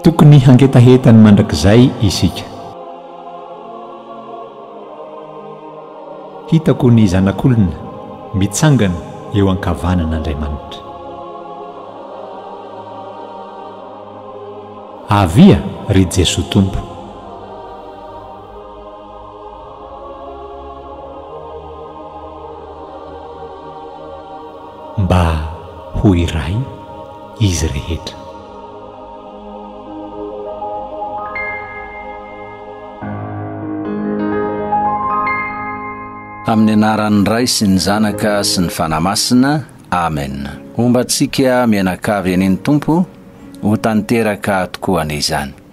Tokony hangetaheta ny mandrakizay isika. Hitako ny Zanak'olona mitsangana eo an-kavanan'Andriamanitra. Avia, ry Jesoa Tompo! Mba ho iray izy rehetra. Amin'ny anaran'ny Ray sy ny Zanaka sy ny Fanahy Masina. Amen. Homba antsika mianakavy an'iny Tompo ho tanteraka tokoa anie izany.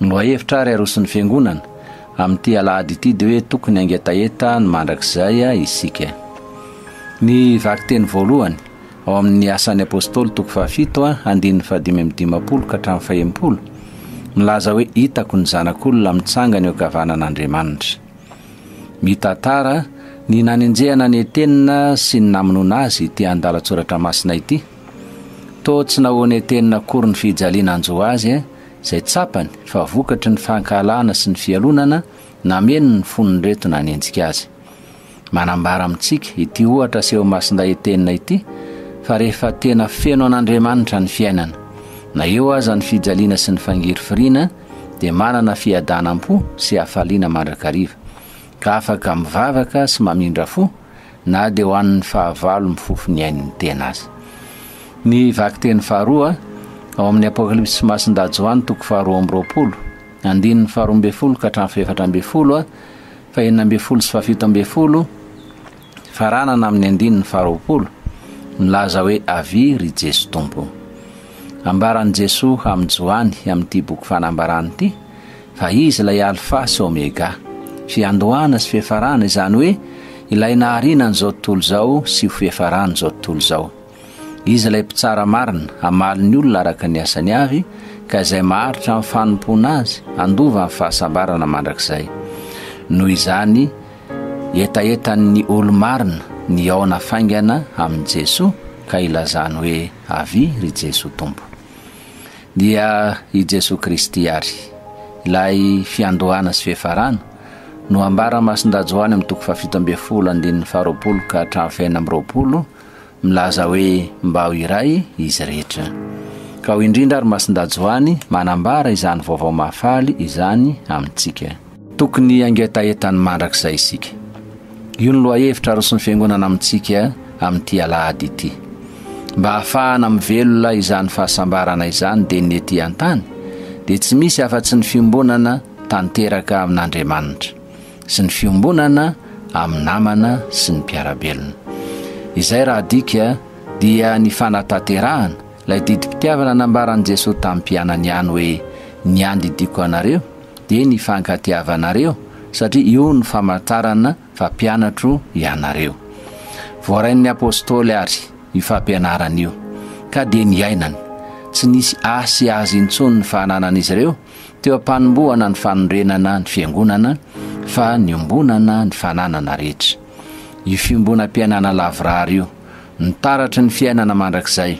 Lohahevitra ary aroson'ny Fiangonana amin'ity alahady ity dia hoe tokony hangetaheta ny mandrakizay isika. Ny vakiteny voalohany ao amin'ny Asan'ny Apôstôly toko fahafito andininy fahadimy amby dimampolo ka hatramin'ny fahenimpolo milaza hoe hitako ny zanak'olona mitsangana eo ankavanan'Andriamanitra. Mitantara ny nanenjehana ny Etena sy ny namonoana azy ity andalan-tsoratra masina ity. Toa tsy nahonetenina akory ny fijaliana anjo azy eh, izay tsapany fa vokatry ny fankahalana sy ny fialonana nameno ny fon'ireto nanenjika azy. Manambara amintsika ity ohatra aseho masindahetenina ity fa rehefa tena feno an'Andriamanitra ny fiainana, na eo aza ny fijaliana sy ny fangirifiriana, dia manana fiadanam-po sy hafaliana mandrakariva, ka afaka mivavaka sy mamindra fo na dia ho an'ny fahavalo mifofo ny ain'ny tena aza. Ny vakiteny faharoa, ao amin'ny Apokalypsy Masin-dà Joany toko faharoa amby roapolo, andininy faharoa ambin'ny folo ka hatramin'ny fahefatra ambin'ny folo, fahenina ambin'ny folo sy fahafito ambin'ny folo, faranana amin'ny andininy faharoapolo, milaza hoe avy ry Jeso Tompo. Ambaran'i Jesoa amin'i Joany amin'ity boky fanambarana ity, Fa Izy ilay Alfa sy Omega, fiandohana sy fiafarana, izany hoe ilay nahariana an'izao tontolo izao sy ho fiafaran'izao tontolo izao. Izy ilay Mpitsara marina, hamaly ny olona araka ny asany avy, ka izay maharitra amin'ny fanompoana Azy, handova amin'ny fahasambarana mandrakizay. Noho izany, hetahetan'ny olo-marina ny hihaona faingana amin'i Jesoa, ka ilazany hoe, Avia, ry Jesoa Tompo! dia i Jesoa Kristy àry, ilay fiandohana sy fiafarana, no ambara masin-dRajoany amin'ny toko fahafito ambin'ny folo andininy faharoapolo ka hatramin'ny fahena amby roapolo, milaza hoe mba ho iray izy rehetra. Ka ho indrindra ary masin-dRajoany manambara izany vaovao mahafaly izany amintsika. Tokony hangetaheta ny mandrakizay isika. Io no lohahevitra aroson'ny Fiangonana amintsika amin'ity Alahady ity. Mba hahafahana mivelona izany fahasambarana izany dia ny ety an-tany dia tsy misy afa-tsy ny fiombonana tanteraka amin'Andriamanitra sy ny fiombonana amin'ny namana sy ny mpiara-belona. Izay raha adika dia ny fanatanterahana ilay didim-pitiavana nambaran'i Jesoa tamin'ny mpianany ihany hoe ny andidiako anareo dia ny fankatiavanareo satria io no famantarana fa mpianatro ianareo. Voarain'ny apostoly ary io fampianarana io ka dia niainany. Tsy nisy ahy sy azy intsony ny fananan'izy ireo teo am-panombohana ny fanorenana ny fiangonana fa niombonana ny fananana rehetra. Io fiombonam-piainana lavorary io, ny taratry ny fiainana mandrakizay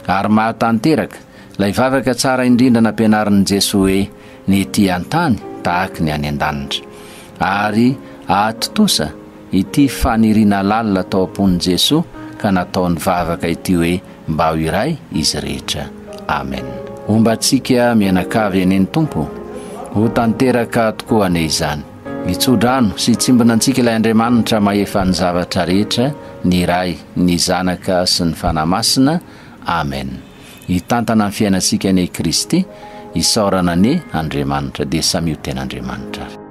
ary mahatanteraka Ilay vavaka tsara indrindra nampianarin'i Jesoa hoe ny ety an-tany tahaka ny any an-danitra. Ary ahatontosa ity faniriana lalina tao am-pon'i Jesoa ka nataony vavaka ity hoe mba ho iray izy rehetra. Amen. Homba antsika mianakavy anie ny Tompo. Ho tanteraka tokoa anie izany. Mitsodrano sy tsimbina antsika ilay Andriamanitra mahefa ny zavatra rehetra, ny Ray, ny Zanaka sy ny Fanahy Masina. Amen. Hitantana ny fiainantsika anie i Kristy, isaorana anie Andriamanitra, dia samia ho ten'Andriamanitra ary.